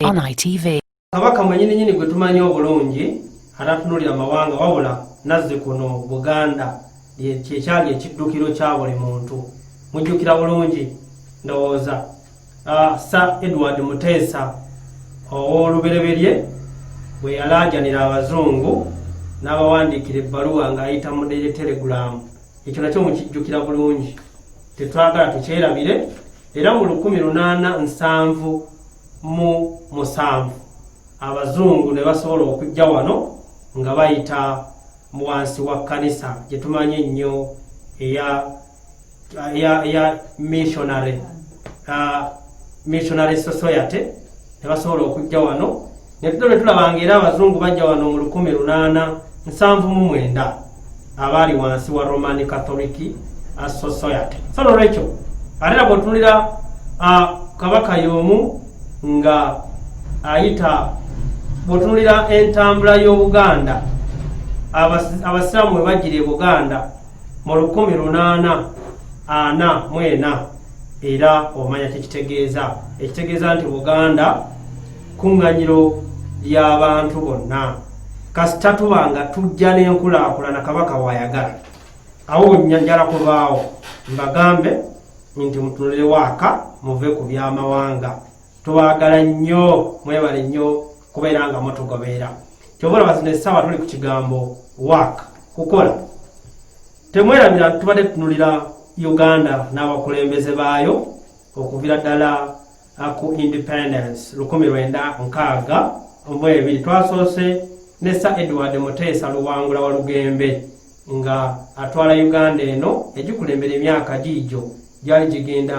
on ITV. Kabaka mwenyini nyini gwe tumanyi obulungi atatunulira amawanga wabula nazze kuno Buganda kyekyali ekiddukiro kya buli muntu mujjukira bulungi ndowooza ah, Sir Edward Muteesa ow'olubereberye bwe yalaajanira abazungu n'abawandiikira ebbaluwa ng'ayita mu deretelegulaamu ekyo nakyo mukijjukira bulungi tetwagala tukyerabire era mu lukumi lunaana nsanvu mu musanvu abazungu ne basobola okujja wano nga bayita mu wansi wa kkanisa gye tumanyi ennyo eya eya eya missionary uh, missionary society ne basobola okujja wano Netuto ne tulaba ng'era abazungu bajja wano mu lukumi lunaana nsanvu mu mwenda abaali wansi wa Roman Catholic Society. So n'olwekyo ate na bw'otunulira kabaka y'omu nga ayita bw'otunulira entambula y'Obuganda abasiraamu we bajjira e Buganda mu lukumi lunaana ana mu ena era omanya kye kitegeeza ekitegeeza nti Buganda kkuŋŋanyiro ly'abantu bonna kasita tuba nga tujja n'enkulaakulana kabaka waayagala awo njala kubaawo mbagambe nti mutunulewo aka muve ku by'amawanga tubaagala nnyo mwebale nnyo kubeera nga mutugobeera kyova olaba zino essaawa tuli ku kigambo wak kukola temwerabira tubadde tunulira uganda n'abakulembeze baayo okuvira ddala ku independence lukumi lwenda nkaaga mu ebiri twasoose ne sir edward muteesa luwangula wa lugembe nga atwala uganda eno egikulembera emyaka giigyo gyali gigenda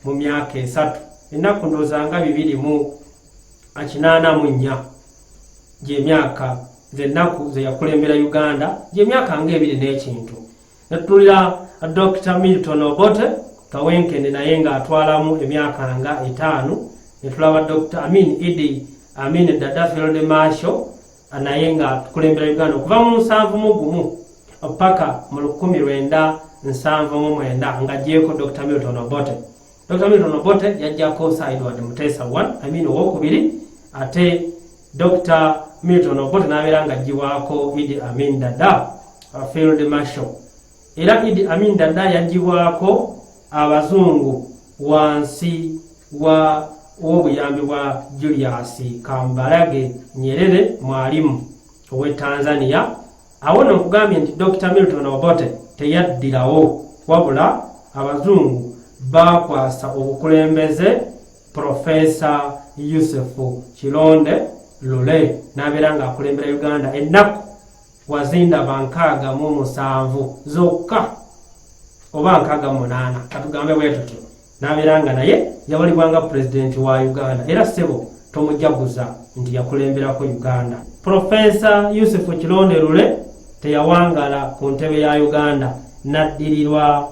mu myaka esatu ennaku ndooza nga bibiri mu akinaana mu nnya gyemyaka zennaku zeyakulembera uganda gyemyaka nga ebiri n'ekintu Nettulira Dr. Milton Obote Kawenkene naye ng'atwalamu emyaka nga etaano ne tulaba Dr. Amin Idi Amin Dada Field Marshal naye nga tukulembera Uganda okuva mu nsanvu mu gumu paka mu lukumi lwenda nsanvu mu mwenda nga gyeko Dr. Milton Obote. Dr. Milton Obote yajjako Sideward Mutesa one, I mean owokubiri ate Dokita Milton Obote n'abeera nga aggyibwako Idi Amin Dada uh, Field Marshal era Idi Amin Dada yaggyibwako abazungu wansi wa w'obuyambi bwa Julius Kambarage Nyerere mwalimu ow'e Tanzania awo no nkugambye nti Dokita Milton Obote teyaddirawo wabula abazungu baakwasa obukulembeze Professor Yusufu Kilonde Lule n'abeera ng'akulembera Uganda ennaku wazindaba nkaaga mu musanvu zokka oba nkaaga munaana katugambe bwe tutyo n'abeera nga naye yawalibwa nga pulezidenti wa Uganda era ssebo tomujaguza nti yakulemberako Uganda. Profesa Yusufu Kilonde Lule teyawangala ku ntebe ya Uganda n'addirirwa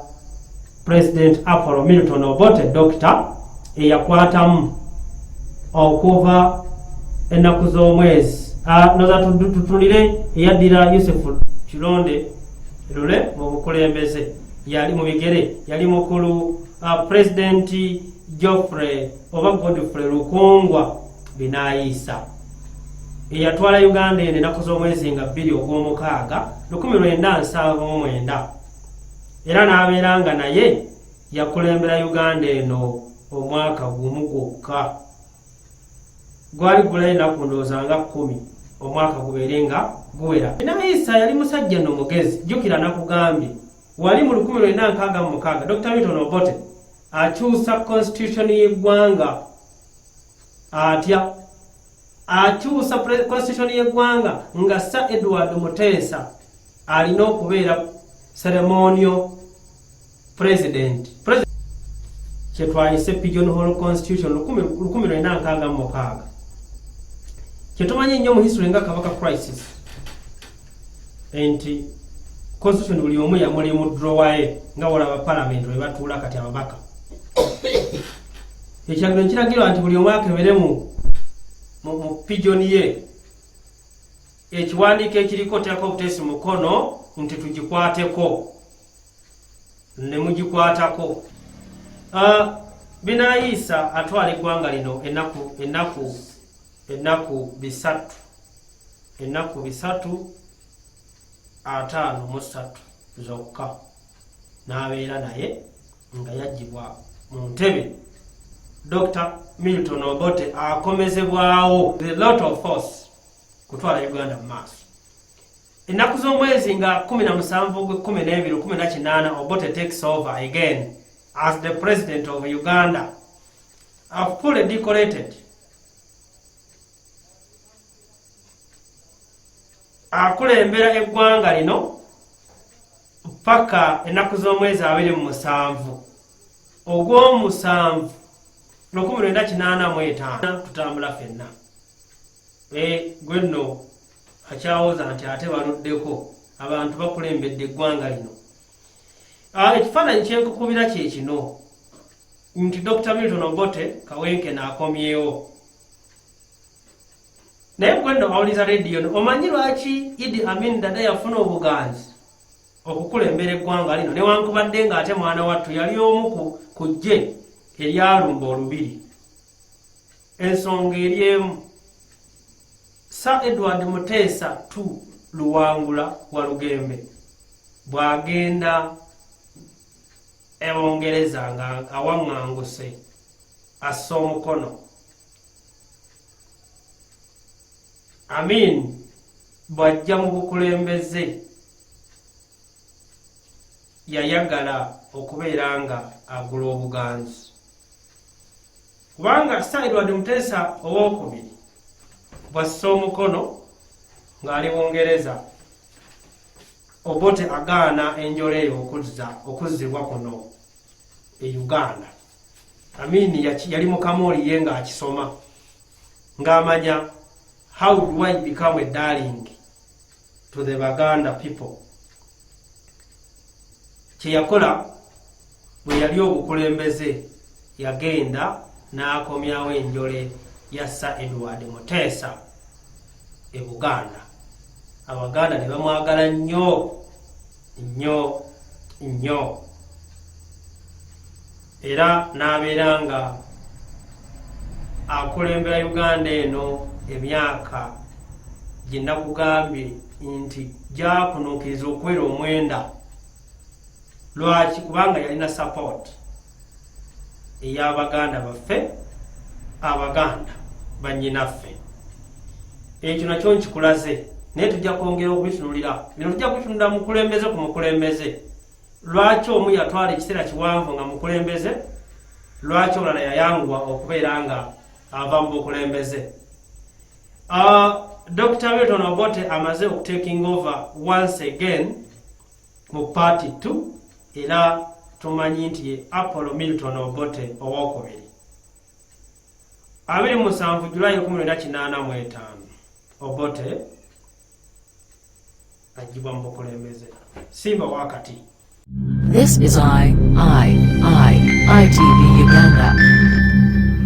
President Apollo Milton Obote Dokita eyakwatamu okuva ennaku z'omwezi ah, noza tutulire eyaddira Yusuf Kilonde lule mu bukulembeze yali mu bigere yali mukulu ah, President Geoffrey oba Godfrey Lukungwa binayiisa eyatwala Uganda eno ennaku z'omwezi nga bbiri ogw'omukaaga lukumi lwenda nsanvu mu mwenda era n'abeera nga naye yakulembera uganda eno omwaka gumu gwokka gwali gulayo enaku ndowooza nga kkumi omwaka gubeere nga guwera naye isa yali musajja no mugezi jjukira nakugambye wali mu lukumi lwena nkaaga mu mukaaga dr milton obote akyusa constitution y'eggwanga atya akyusa constitution y'eggwanga nga sir edward muteesa alina okubeera seremonio president kyetwayise pigeon hall constitution 1966 kyetumanyi nnyo mu history nga kabaka crisis nti constitution buli omu yamuli mu drowaye nga wolaba palamenti webatuula kati ababaka ekyagiro nkiragirwa nti buli omu akebere mu mu pigeon ye ekiwandiiko ekiriko teeka obutesi mukono nti tugikwateko ne mugikwatako ah, binayiisa atwala eggwanga lino enaku enaku ennaku bisatu ennaku bisatu ataano mu ssatu zokka n'abeera naye nga yaggyibwa mu ntebe dr milton obote akomezebwawo the lot of force kutwala uganda mu maaso ennaku z'omwezi nga 17 gwe 12 18 obote takes over again as the president of uganda have fully decorated akulembera eggwanga lino ppaka ennaku z'omwezi abiri mu musanvu ogw'omusanvu lukumi lwenda kinaana mu etaano tutambula fenna e, gwe nno akyawoza nti ate baluddeko abantu bakulembedde eggwanga lino ekifaananyi kyenkukubira kye kino nti Dr. Milton Obote kawenkene akomyewo naye gwenno awuliza rediyo no omanyi lwaki idi amin dada yafuna obuganzi okukulembera eggwanga lino newankubadde nga ate mwana wattu yali omu ku ggye eryalumba olubiri ensonga eri emu sa edward muteesa tu luwangula walugembe bwagenda e Bungereza nga awaŋŋanguse assa omukono Amin bw'ajja mu bukulembeze yayagala okubeera nga agula obuganzi kubanga Sir Edward Muteesa ow'okubiri bw'assa omukono ng'ali Bungereza Obote agaana enjola eyo okuzza okuzzibwa kuno e Uganda. Amin yali mukamooli ye ng'akisoma ng'amanya how do I become a darling to the Baganda people. Kye yakola bwe yali obukulembeze yagenda n'akomyawo enjole ya Sir Edward Muteesa e Buganda. Abaganda ne bamwagala nnyo nnyo nnyo era n'abeera nga akulembera Uganda eno emyaka gye nakugambye nti gyakunuukiriza okuwera omwenda. lwaki kubanga yalina support eyabaganda baffe abaganda banyinaffe ekyo nakyo nkikulaze naye tujja kwongera okubitunulira bino tujja kubitunulira mukulembeze ku mukulembeze lwaki omu yatwala ekiseera kiwanvu nga mukulembeze lwaki olala yayanguwa okubeera nga ava mu bukulembeze ah, dr milton obote amaze okutekinga over once again mu paati ttu era tumanyi nti ye apollo milton obote owokubiri 27 julayi 1985 obote ajibwa mu bukulembeze simba wakati This is I, I, I, ITV Uganda.